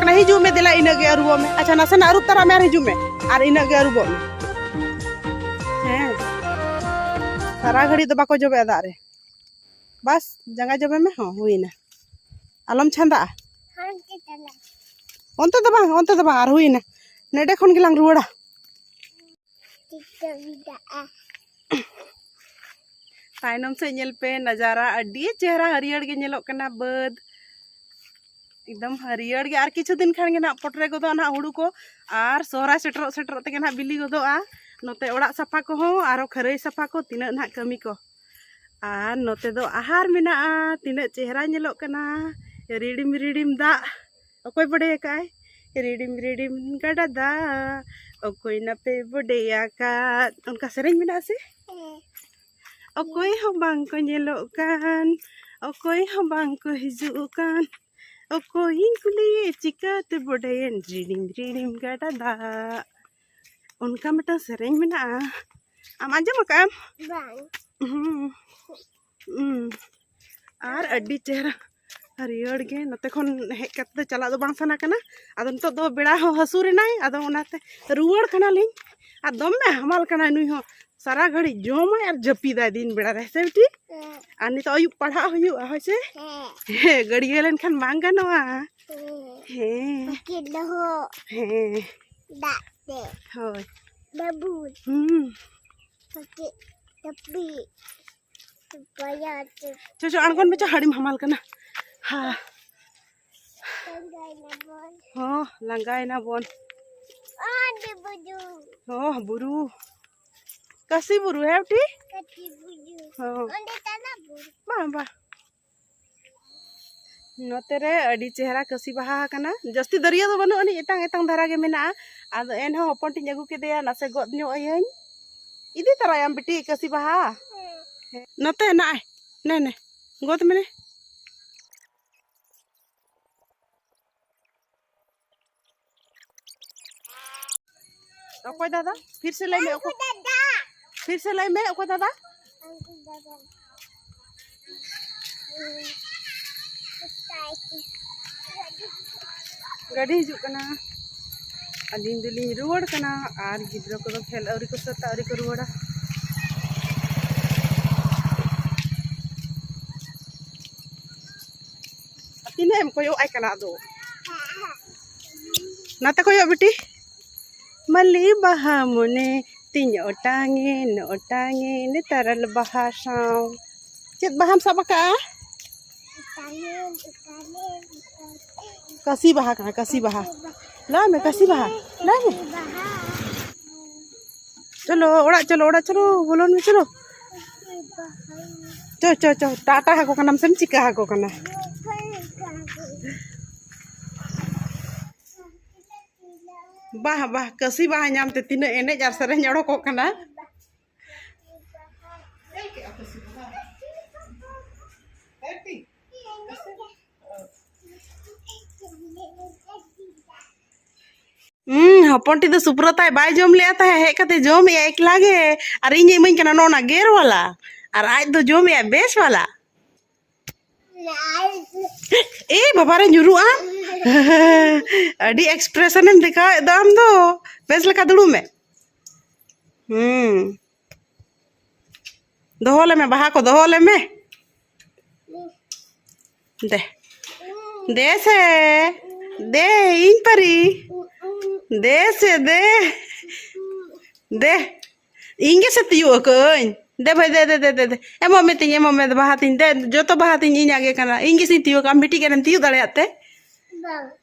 ᱠᱟᱱᱟ ᱦᱤᱡᱩᱜ ᱢᱮ ᱫᱮᱞᱟ ᱤᱱᱟᱹᱜ ᱜᱮ ᱟᱹᱨᱩᱵᱚᱜ ᱢᱮ ᱟᱪᱪᱷᱟ ᱱᱟᱥᱮᱱᱟᱜ ᱟᱹᱨᱩᱵ ᱛᱟᱨᱟ ᱢᱮ ᱟᱨ ᱦᱤᱡᱩᱜ ᱢᱮ ᱟᱨ ᱤᱱᱟᱹᱜ ᱜᱮ ᱟᱹᱨᱩᱵᱚᱜ ᱢᱮ ᱦᱮᱸ ᱥᱟᱨᱟ ᱜᱷᱟᱹᱲᱤᱡ ᱫᱚ ᱵᱟᱠᱚ ᱡᱚᱵᱮᱜᱼᱟ ᱫᱟᱜ ᱨᱮ ᱵᱟᱥ ᱡᱟᱸᱜᱟ ᱡᱚᱵᱮ ᱢᱮ ᱦᱚᱸ ᱦᱩᱭᱱᱟ ᱟᱞᱚᱢ ᱪᱷᱟᱸᱫᱟᱜᱼᱟ ᱚᱱᱛᱮ ᱫᱚ ᱵᱟᱝ ᱚᱱᱛᱮ ᱫᱚ ᱵᱟᱝ ᱟᱨ ᱦᱩᱭᱱᱟ ᱱᱮᱰᱮ ᱠᱷᱚᱱ ᱜᱮᱞᱟᱝ ᱨᱩᱣᱟᱹᱲᱟ ᱛᱟᱭᱱᱚᱢ ᱥᱮᱫ ᱧᱮᱞ ᱯᱮ ᱱᱟᱡᱟᱨᱟ ᱟᱹᱰᱤ ᱪᱮᱦᱨᱟ ᱦᱟᱹᱨᱭᱟᱹᱲ ᱜᱮ ᱧᱮᱞᱚᱜ ᱠᱟᱱᱟ ᱵᱟᱹᱫᱽ ᱮᱠᱫᱚᱢ ᱦᱟᱹᱨᱭᱟᱹᱲ ᱜᱮ ᱟᱨ ᱠᱤᱪᱷᱩ ᱫᱤᱱ ᱠᱷᱟᱱ ᱜᱮ ᱱᱟᱜ ᱯᱚᱴᱨᱮ ᱜᱚᱫᱚᱜᱼᱟ ᱱᱟᱜ ᱦᱩᱲᱩ ᱠᱚ ᱟᱨ ᱥᱚᱦᱨᱟᱭ ᱥᱮᱴᱮᱨᱚᱜ ᱥᱮᱴᱮᱨᱚᱜ ᱛᱮᱜᱮ ᱱᱟᱜ ᱵᱤᱞᱤ ᱜᱚᱫᱚᱜᱼᱟ ᱱᱚᱛᱮ ᱚᱲᱟᱜ ᱥᱟᱯᱷᱟ ᱠᱚᱦᱚᱸ ᱟᱨᱚ ᱠᱷᱟᱹᱨᱟᱹᱭ ᱥᱟᱯᱷᱟ ᱠᱚ ᱛᱤᱱᱟᱹᱜ ᱱᱟᱜ ᱠᱟᱹᱢᱤ ᱠᱚ ᱟᱨ ᱱᱚᱛᱮ ᱫᱚ ᱟᱦᱟᱨ ᱢᱮᱱᱟᱜᱼᱟ ᱛᱤᱱᱟᱹᱜ ᱪᱮᱦᱨᱟ ᱧᱮᱞᱚᱜ ᱠᱟᱱᱟ ᱨᱤᱲᱤᱢ ᱨᱤᱲᱤᱢ ᱫᱟᱜ ᱚᱠᱚᱭ ᱵᱚᱰᱮ ᱟᱠᱟᱫ ᱟᱭ ᱨᱤᱰᱤᱢ ᱨᱤᱰᱤᱢ ᱜᱟᱰᱟ ᱫᱟᱜ ᱚᱠᱚᱭ ᱱᱟᱯᱮ ᱵᱚᱰᱮ ᱟᱠᱟᱫ ᱚᱱᱠᱟ ᱥᱮᱨᱮᱧ ᱢᱮᱱᱟᱜᱼᱟ ᱥᱮ ᱚᱠᱚᱭ ᱦᱚᱸ ᱵᱟᱝ ᱠᱚ ᱧᱮᱞᱚᱜ ᱠᱟᱱ ᱚᱠᱚᱭ ᱦᱚᱸ ᱵᱟᱝ ᱠᱚ ᱦᱤᱡᱩᱜ ᱠᱟᱱ ᱚᱠᱚᱭᱤᱧ ᱠᱩᱞᱤᱭᱮ ᱪᱤᱠᱟᱹᱛᱮ ᱵᱚᱰᱮᱭᱮᱱ ᱨᱤᱰᱤᱢ ᱨᱤᱰᱤᱢ ᱜᱟᱰᱟ ᱫᱟᱜ ᱚᱱᱠᱟ ᱢᱤᱫᱴᱟᱝ ᱥᱮᱨᱮᱧ ᱢᱮᱱᱟᱜᱼᱟ ᱟᱢ ᱟᱸᱡᱚᱢ ᱟᱠᱟᱫ ᱟᱢ ᱵᱟᱝ ᱟᱨ ᱟᱹᱰᱤ ᱪᱮᱦᱨᱟ ᱦᱟᱹᱨᱭᱟᱹᱲ ᱜᱮ ᱱᱚᱛᱮ ᱠᱷᱚᱱ ᱦᱮᱡ ᱠᱟᱛᱮ ᱫᱚ ᱪᱟᱞᱟᱜ ᱫᱚ ᱵᱟᱝ ᱥᱟᱱᱟ ᱠᱟᱱᱟ ᱟᱫᱚ ᱱᱤᱛᱚᱜ ᱫᱚ ᱵᱮᱲᱟ ᱦᱚᱸ ᱦᱟᱹᱥᱩᱨ ᱮᱱᱟᱭ ᱟᱫᱚ ᱚᱱᱟᱛᱮ ᱨᱩᱣᱟᱹᱲ ᱠᱟᱱᱟᱞᱤᱧ ᱟᱨ ᱫᱚᱢᱮ ᱦᱟᱢᱟᱞ ᱠᱟᱱᱟᱭ ᱱᱩᱭ ᱦᱚᱸ ᱥᱟᱨᱟ ᱜᱷᱟᱹᱲᱤᱡ ᱡᱚᱢᱟᱭ ᱟᱨ ᱡᱟᱹᱯᱤᱫᱟᱭ ᱫᱤᱱ ᱵᱮᱲᱟ ᱨᱮ ᱥᱮ ᱵᱤᱴᱤ ᱟᱨ ᱱᱤᱛᱚᱜ ᱟᱹᱭᱩᱵ ᱯᱟᱲᱦᱟᱜ ᱦᱩᱭᱩᱜᱼᱟ ᱦᱳᱭ ᱥᱮ ᱦᱮᱸ ᱜᱟᱹᱲᱭᱟᱹ ᱞᱮᱱᱠᱷᱟᱱ ᱵᱟᱝ ᱜᱟᱱᱚᱜᱼᱟ ᱦᱮᱸ ᱦᱮᱸ ᱫᱟᱜ ᱛᱮ ᱦᱳᱭ ᱵᱟᱹᱵᱩ ᱦᱩᱸ ᱪᱚ ᱪᱚ ᱟᱬᱜᱚᱱ ᱢᱮ ᱪᱚ ᱦᱟᱹᱲᱤᱢ ᱦᱟᱢᱟᱞ ᱠᱟᱱᱟ ᱦᱟ ᱦᱚᱸ ᱞᱟᱸᱜᱟᱭᱮᱱᱟ ᱵᱚᱱ ᱦᱚᱸ ᱵᱩᱨᱩ ᱠᱟᱥᱤ ᱵᱩᱨᱩ ᱦᱮᱸ ᱴᱷᱤᱠ ᱦᱚᱸ ᱵᱟᱝ ᱵᱟᱝ ᱱᱚᱛᱮ ᱨᱮ ᱟᱹᱰᱤ ᱪᱮᱦᱨᱟ ᱠᱟᱹᱥᱤ ᱵᱟᱦᱟ ᱟᱠᱟᱱᱟ ᱡᱟᱹᱥᱛᱤ ᱫᱟᱹᱨᱭᱟᱹ ᱫᱚ ᱵᱟᱹᱱᱩᱜ ᱟᱹᱱᱤᱡ ᱮᱛᱟᱝ ᱮᱛᱟᱝ ᱫᱷᱟᱨᱟ ᱜᱮ ᱢᱮᱱᱟᱜᱼᱟ ᱟᱫᱚ ᱮᱱᱦᱚᱸ ᱦᱚᱯᱚᱱ ᱴᱤᱧ ᱟᱹᱜᱩ ᱠᱮᱫᱮᱭᱟ ᱱᱟᱥᱮ ᱜᱚᱫ ᱧᱚᱜ ᱟᱹᱭᱟᱹᱧ ᱤᱫᱤ ᱛᱚᱨᱟᱭᱟᱢ ᱵᱤᱴᱤ ᱠᱟᱹᱥᱤ ᱵᱟᱦᱟ ᱱᱚᱛᱮ ᱱᱟᱭ ᱱᱮ ᱱᱮ ᱜᱚᱫ ᱢᱮ ᱚᱠᱚᱭ ᱫᱟᱫᱟ ᱯᱷᱤᱨ ᱥᱮ ᱞᱟᱹᱭ ᱢᱮ ᱚᱠᱚᱭ ᱫᱟᱫᱟ ᱯᱷᱤᱨ ᱥᱮ ᱞᱟᱹᱭ ᱢᱮ ᱚᱠᱚᱭ ᱫᱟᱫᱟ ᱜᱟᱹᱰᱤ ᱦᱤᱡᱩᱜ ᱠᱟᱱᱟ ᱟᱹᱞᱤᱧ ᱫᱚᱞᱤᱧ ᱨᱩᱣᱟᱹᱲ ᱠᱟᱱᱟ ᱟᱨ ᱜᱤᱫᱽᱨᱟᱹ ᱠᱚᱫᱚ ᱠᱷᱮᱞ ᱟᱹᱣᱨᱤ ᱠᱚ ᱥᱟᱹᱛᱟ ᱟᱹᱣᱨᱤ ᱠᱚ ᱨᱩᱣᱟᱹᱲᱟ ᱛᱤᱱᱟᱹᱜ ᱮᱢ ᱠᱚᱭᱚᱜ ᱟᱭ ᱠᱟᱱᱟ ᱟᱫᱚ ᱱᱟᱛᱮ ᱠᱚᱭᱚᱜ ᱵᱤᱴᱤ ᱢᱟᱹᱞᱤ ᱵᱟᱦᱟ ᱢᱚᱱᱮ ᱛᱤᱧ ᱚᱴᱟᱝᱮ ᱚᱴᱟᱝᱮ ᱱᱮᱛᱟᱨᱟᱞ ᱵᱟᱦᱟ ᱥᱟᱶ ᱪᱮᱫ ᱵᱟᱦᱟᱢ ᱥᱟᱵ ᱟᱠᱟᱜᱼᱟ ᱠᱟᱥᱤ ᱵᱟᱦᱟ ᱠᱟᱱᱟ ᱠᱟᱥᱤ ᱵᱟᱦᱟ ᱞᱟᱭ ᱢᱮ ᱠᱟᱥᱤ ᱵᱟᱦᱟ ᱞᱟᱭ ᱢᱮ ᱪᱚᱞᱚ ᱚᱲᱟᱜ ᱪᱚᱞᱚ ᱚᱲᱟᱜ ᱪᱚᱞᱚ ᱵᱚᱞᱚᱱ ᱢᱮ ᱪᱚᱞᱚ ᱪᱚ ᱪᱚ ᱪᱚ ᱴᱟᱴᱟ ᱟᱠᱚ ᱠᱟᱱᱟᱢ ᱥᱮᱢ ᱪᱤᱠᱟ ᱟᱠᱚ ᱠᱟᱱᱟ ᱵᱟᱦ ᱵᱟᱦ ᱠᱟᱹᱥᱤ ᱵᱟᱦᱟ ᱧᱟᱢ ᱛᱮ ᱛᱤᱱᱟᱹᱜ ᱮᱱᱮᱡ ᱟᱨ ᱥᱮᱨᱮᱧ ᱚᱰᱚᱠᱚᱜ ᱠᱟᱱᱟ ᱦᱚᱯᱚᱱ ᱴᱷᱤᱠ ᱫᱚ ᱥᱩᱯᱨᱚᱛᱟᱭ ᱵᱟᱭ ᱡᱚᱢ ᱞᱮᱜᱼᱟ ᱛᱟᱦᱮᱸ ᱦᱮᱡ ᱠᱟᱛᱮ ᱡᱚᱢᱮᱜᱼᱟ ᱮᱠᱞᱟ ᱜᱮ ᱟᱨ ᱤᱧ ᱤᱢᱟᱹᱧ ᱠᱟᱱᱟ ᱱᱚᱜᱼᱚ ᱱᱟ ᱜᱮᱨ ᱵᱟᱞᱟ ᱟᱨ ᱟᱡ ᱫᱚ ᱡᱚᱢᱮᱜᱼᱟ ᱵᱮᱥ ᱵᱟᱞᱟ ᱮ ᱵᱟᱵᱟᱨᱮ ᱧᱩᱨᱩᱜᱼᱟ ᱟᱹᱰᱤ ᱮᱠᱥᱯᱨᱮᱥᱚᱱᱮᱢ ᱫᱮᱠᱷᱟᱣᱮᱫ ᱫᱚ ᱟᱢ ᱫᱚ ᱵᱮᱥ ᱞᱮᱠᱟ ᱫᱩᱲᱩᱵ ᱢᱮ ᱦᱩᱸ ᱫᱚᱦᱚ ᱞᱮᱢᱮ ᱵᱟᱦᱟ ᱠᱚ ᱫᱚᱦᱚ ᱞᱮᱢᱮ ᱫᱮ ᱫᱮ ᱥᱮ ᱫᱮ ᱤᱧ ᱯᱟᱨᱤ ᱫᱮ ᱥᱮ ᱫᱮ ᱫᱮ ᱤᱧ ᱜᱮᱥᱮ ᱛᱤᱭᱳᱜ ᱟᱠᱟᱹᱧ ᱫᱮ ᱵᱷᱟᱹᱭ ᱫᱮ ᱫᱮ ᱫᱮ ᱫᱮ ᱮᱢᱚᱜ ᱢᱮ ᱛᱤᱧ ᱮᱢᱚᱜ ᱢᱮ ᱵᱟᱦᱟ ᱛᱤᱧ ᱫᱮ ᱡᱚᱛᱚ ᱵᱟᱦᱟ ᱛᱤᱧ ᱤᱧᱟᱜ ᱜᱮ ᱠᱟᱱᱟ ᱤᱧ ᱜᱮᱥᱮᱧ ᱛᱤᱭᱳᱜ ᱟᱢ ᱢᱤᱫᱴᱤᱡ ᱜᱟᱱᱮᱢ ᱛᱤᱭᱳᱜ ᱫᱟᱲᱮᱭᱟᱜ ᱛᱮ ᱵᱟᱝ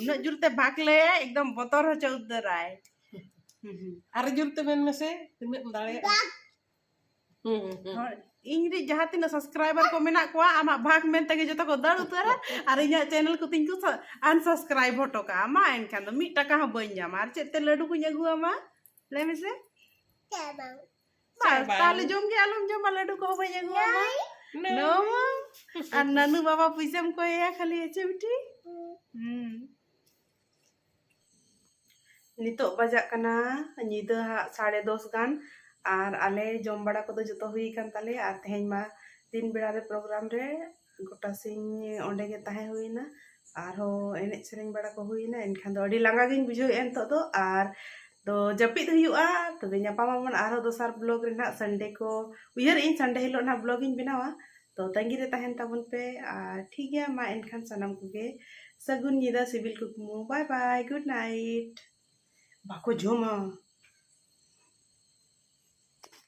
ᱩᱱᱟᱹᱜ ᱡᱳᱨ ᱛᱮ ᱵᱷᱟᱜᱽ ᱞᱟᱹᱭᱟ ᱮᱠᱫᱚᱢ ᱵᱚᱛᱚᱨ ᱦᱚᱪᱚ ᱩᱛᱟᱹᱨᱟᱭ ᱟᱨ ᱡᱳᱨ ᱛᱮ ᱢᱮᱱ ᱢᱮᱥᱮ ᱛᱤᱱᱟᱹᱜ ᱮᱢ ᱫᱟᱲᱮᱭᱟᱜᱼᱟ ᱤᱧ ᱨᱮ ᱡᱟᱦᱟᱸ ᱛᱤᱱᱟᱹᱜ ᱥᱟᱵᱥᱠᱨᱟᱭᱵᱟᱨ ᱠᱚ ᱢᱮᱱᱟᱜ ᱠᱚᱣᱟ ᱟᱢᱟᱜ ᱵᱷᱟᱜᱽ ᱢᱮᱱ ᱛᱮᱜᱮ ᱡᱚᱛᱚ ᱠᱚ ᱫᱟᱹᱲ ᱩᱛᱟᱹᱨᱟ ᱟᱨ ᱤᱧᱟᱹᱜ ᱪᱮᱱᱮᱞ ᱠᱚ ᱛᱤᱧ ᱠᱚ ᱟᱱᱥᱟᱵᱥᱠᱨᱟᱭᱤᱵ ᱦᱚᱴᱚ ᱠᱟᱜᱼᱟ ᱢᱟ ᱮᱱᱠᱷᱟᱱ ᱫᱚ ᱢᱤᱫ ᱴᱟᱠᱟ ᱦᱚᱸ ᱵᱟᱹᱧ ᱧᱟᱢᱟ ᱟᱨ ᱪᱮᱫ ᱛᱮ ᱞᱟᱹᱰᱩ ᱠᱚᱧ ᱟᱹᱜᱩᱣᱟᱢᱟ ᱞᱟᱹᱭ ᱢᱮᱥᱮ ᱪᱮᱫ ᱵᱟᱝ ᱵᱟᱝ ᱛᱟᱦᱞᱮ ᱡᱚᱢ ᱜᱮ ᱟᱞᱚᱢ ᱡᱚᱢᱟ ᱞᱟᱹᱰᱩ ᱠᱚᱦᱚᱸ ᱵᱟᱹᱧ ᱟᱹᱜᱩ ᱟᱢᱟ ᱱᱚ ᱢᱚᱢ ᱟᱨ ᱱᱟᱱᱩ ᱵᱟᱵᱟ ᱯᱩᱭᱥᱟᱹᱢ ᱠᱚᱭᱮᱭᱟ ᱠᱷᱟᱹᱞᱤ ᱦᱮᱪᱮ ᱵᱤᱴᱤ ᱦᱩᱸ ᱱᱤᱛᱚᱜ ᱵᱟᱡᱟᱜ ᱠᱟᱱᱟ ᱧᱤᱫᱟᱹ ᱦᱟᱸᱜ ᱥᱟᱲᱮ ᱫᱚᱥ ᱜᱟᱱ ᱟᱨ ᱟᱞᱮ ᱡᱚᱢ ᱵᱟᱲᱟ ᱠᱚᱫᱚ ᱡᱚᱛᱚ ᱦᱩᱭ ᱟᱠᱟᱱ ᱛᱟᱞᱮᱭᱟ ᱟᱨ ᱛᱮᱦᱮᱧ ᱢᱟ ᱫᱤᱱ ᱵᱮᱲᱟ ᱨᱮ ᱯᱨᱳᱜᱨᱟᱢ ᱨᱮ ᱜᱚᱴᱟ ᱥᱤᱧ ᱚᱸᱰᱮ ᱜᱮ ᱛᱟᱦᱮᱸ ᱦᱩᱭᱱᱟ ᱟᱨᱦᱚᱸ ᱮᱱᱮᱡ ᱥᱮᱨᱮᱧ ᱵᱟᱲᱟ ᱠᱚ ᱦᱩᱭᱱᱟ ᱮᱱᱠᱷᱟᱱ ᱫᱚ ᱟᱹᱰᱤ ᱞᱟᱸᱜᱟ ᱜᱤᱧ ᱵᱩᱡᱷᱟᱹᱣᱮᱫᱼᱟ ᱱᱤᱛᱚᱜ ᱫᱚ ᱟᱨ ᱫᱚ ᱡᱟᱹᱯᱤᱫ ᱦᱩᱭᱩᱜᱼᱟ ᱛᱚᱵᱮ ᱧᱟᱯᱟᱢ ᱟᱵᱚᱱ ᱟᱨᱦᱚᱸ ᱫᱚᱥᱟᱨ ᱵᱞᱚᱜᱽ ᱨᱮ ᱱᱟᱦᱟᱜ ᱥᱟᱱᱰᱮ ᱠᱚ ᱩᱭᱦᱟᱹᱨᱮᱫ ᱟᱹᱧ ᱥᱟᱱᱰᱮ ᱦᱤᱞᱳᱜ ᱱᱟᱦᱟᱜ ᱵᱞᱚᱜᱽ ᱤᱧ ᱵᱮᱱᱟᱣᱟ ᱛᱚ ᱛᱟᱺᱜᱤ ᱨᱮ ᱛᱟᱦᱮᱱ ᱛᱟᱵᱚᱱ ᱯᱮ ᱟᱨ ᱴᱷᱤᱠ ᱜᱮᱭᱟ ᱢᱟ ᱮᱱᱠᱷᱟᱱ ᱥᱟᱱᱟᱢ ᱠᱚᱜᱮ ᱥᱟᱹᱜᱩᱱ ᱧᱤᱫᱟᱹ ᱥᱤᱵᱤᱞ ᱠᱩᱠᱢᱩ ᱵᱟᱭ ᱵᱟᱭ ᱜᱩᱰ ᱱᱟᱭᱤᱴ ᱵᱟᱠᱚ ᱡᱚᱢᱟ